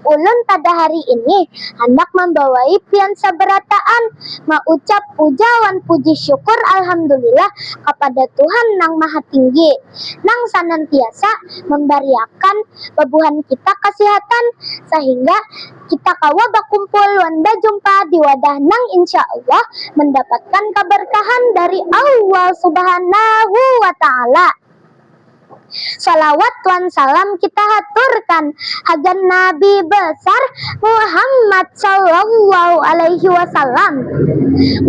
Ulun pada hari ini handak mambawai pian sabarataan maucap puja wan puji syukur Alhamdulillah kapada Tuhan Nang Maha Tinggi, nang sanantiasa mambariakan babuhan kita kasihatan sahingga kita kawa bakumpul wan bajumpa di wadah nang insya Allah mandapatkan kabarkahan dari Allah Subhanahu wa Ta'ala. Shalawat wan salam kita haturkan hagan Nabi Besar Muhammad Shallallahu Alaihi Wasallam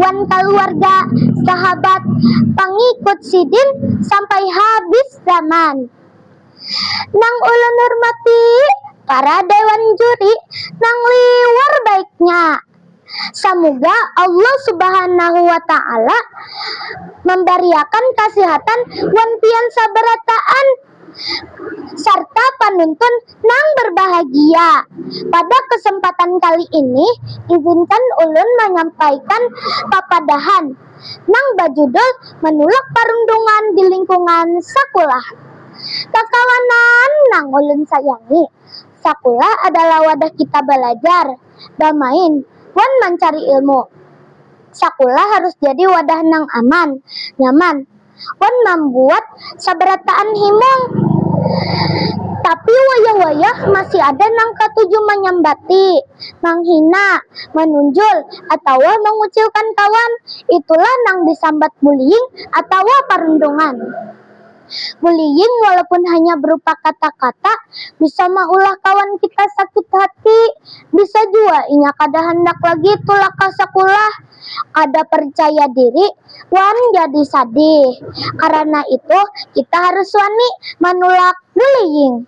wan kaluarga, sahabat, pangikut Sidin sampai habis zaman. Nang ulun hurmati para Dewan Juri nang liwar baiknya. Samuga Allah subhanahu wa ta'ala mambariakan kasihatan wan pian sabarataan sarta panuntun nang barbahagia. Pada kasempatan kali ini izinkan ulun manyampaikan papadahan nang bajudul Manulak Parundungan di Lingkungan Sakulah. Kakawanan nang ulun sayangi, sakulah adalah wadah kita balajar. bamain, wan mancari ilmu. Sakulah harus jadi wadah nang aman, nyaman, wan mambuat sabarataan himung. Tapi wayah-wayah masih ada nang katuju manyambati, manghina, manunjul, atawa mangucilkan kawan. Itulah nang disambat bullying atawa parundungan. Bullying walaupun hanya berupa kata-kata bisa maulah kawan kita sakit hati. Bisa jua inya kada handak lagi tulak ka sakulah, kada parcaya diri, wan jadi sadih. Karana itu, kita harus wani manulak bullying.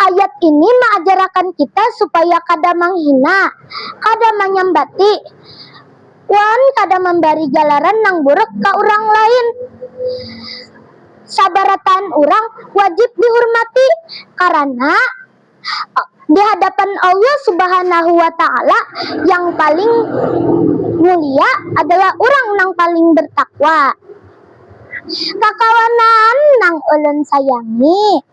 Ayat ini maajarakan kita supaya kada manghina, kada manyambati, wan kada mambari galaran nang buruk ka urang lain. Sabarataan urang wajib dihurmati karana di hadapan Allah Subhanahu wa Ta'ala yang paling mulia adalah urang nang paling bertakwa. Kakawanan nang ulun sayangi.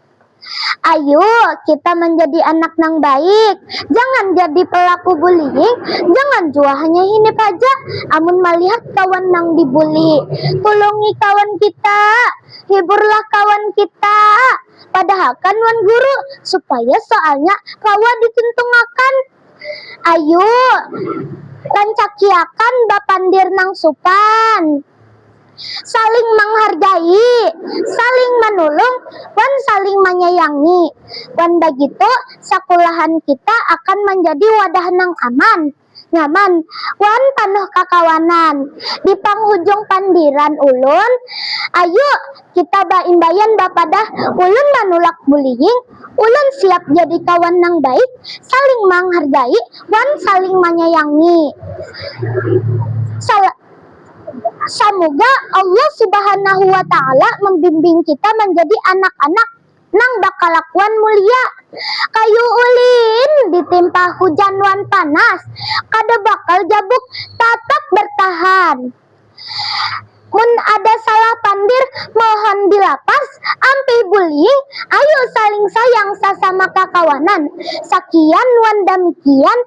Ayu, kita manjadi anak nang baik. Jangan jadi pelaku bullying, jangan jua hanya hinip haja amun malihat kawan nang dibuli. Tulungi kawan kita, hiburlah kawan kita, padahakan wan guru supaya soalnya kawa dituntungakan. Ayu, rancakiakan bapandir nang supan. saling manghargai, saling manulung, wan saling manyayangi. Wan bagitu, sakulahan kita akan manjadi wadah nang aman, nyaman, wan panuh kakawanan. Di panghujung pandiran ulun, ayu kita baimbaian bapadah ulun manulak bullying, ulun siap jadi kawan nang baik, saling manghargai, wan saling manyayangi. Sala. Samuga Allah subhanahu wa ta'ala mambimbing kita manjadi anak-anak nang bakalakuan mulia. Kayu ulin ditimpa hujan wan panas, kada bakal jabuk, tatap bartahan. Mun ada salah pandir, mohon dilapas, ampih bullying, ayu saling sayang sasama kakawanan. Sakian wan damikian.